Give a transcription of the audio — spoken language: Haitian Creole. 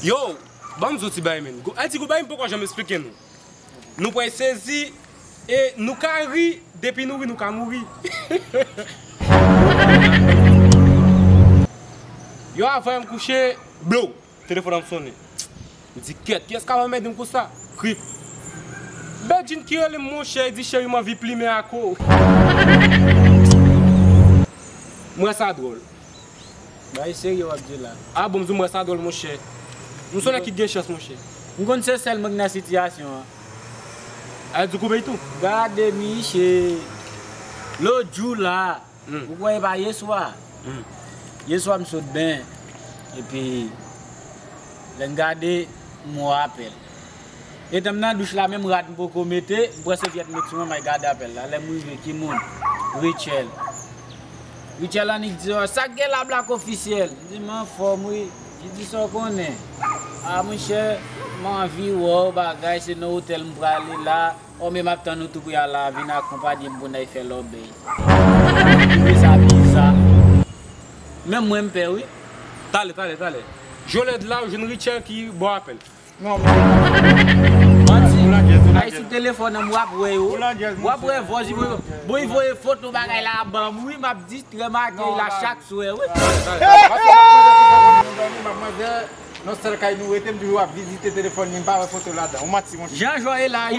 Yow banm zouti bay men. Ayiti gou bagay m poko janm esplike nou. Nou pway sezi e nou ka ri depi nou ri nou ka mouri. Yow avan m kouche blow telefon an sone. M di kyèt kiyès kap anmède m konsa. Krip. Bedjine ki rele m monchè e di cheri m anvi plimen ak ou. M wè sa dwòl. Bagay serye wap di la. Ah bon mzou mwen sa dwòl monchè. M son nèg ki t gen chans monchè. M konn se sèl mwen ki nan sitiyasyon an. Al di koube itou. Gade miche Lot jou la Ou kwè epa yeswa Yeswa m sot benyen Epi Lè n gade m wè apèl. Etanm nan douch la menm rad m poko mete, m pran sevyèt m met sou mwen may gade apèl la, lèm rive ki moun? Rutshelle Rutshelle annik di yo, sak gen la Black Officiel? M di m anfòm wi, li di sa w konnen? Ah monchè m anvi wè w bagay se nan otèl m prale la, oh men map tann ou tou pou y al la vin akonpanye m pou n al fè lòbèy. Mwen twouve sa biza, menm mwen m pè wi. Pale pale pale, jolèd la ou jwenn Rutshelle ki bò apèl? Manti, ay sou telefòn an m wap wè yo, wap wè vòs li voye, bon li voye foto bagay la a banm wi map distrèm ak li la chak swè wi. Paske map manje sou telefòn li nou dòmi, map manje nan sèl kay nou rete m toujou ap vizite telefòn li m pa wè foto ladan, ou manti monchè. Jan jò ye la a wi.